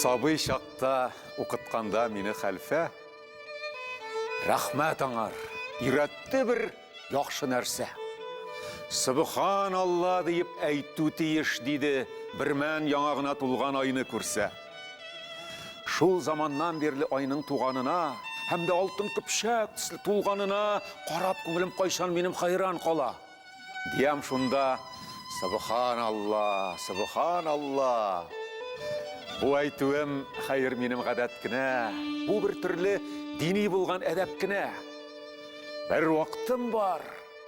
Сабый чакта укытканда мине хәлфә рәхмәт аңар өйрәтте бер яхшы нәрсә. Субхан Алла диеп әйтү тиеш диде, бермән яңа гына тулган айны күрсә. Шул заманнан бирле айның туганына һәм дә алтын көпшәк төсле тулганына карап күңелем кайчан минем хайран кала. Диям шунда, Субхан Алла, Субхан Алла. Бу әйтүем хәер минем гадәт кенә, бу бер төрле дини булган әдәп кенә. Бер вакытым бар.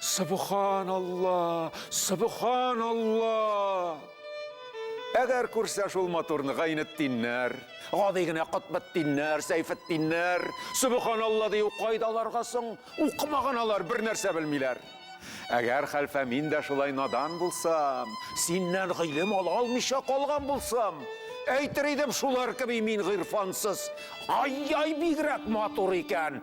Субханалла! Субханалла! Әгәр күрсә шул матурны Гайнетдиннәр, гади генә Котбетдиннәр, Сәйфетдиннәр, Субханалла дию кайда аларга соң? Укымаган алар, бер нәрсә белмиләр. Әгәр хәлфә мин дә шулай надан булсам, синнән гыйлем ала алмыйча калган булсам, әйтер идем, шулар кеби мин гыйрфансыз. Ай-яй, бигрәк матур икән!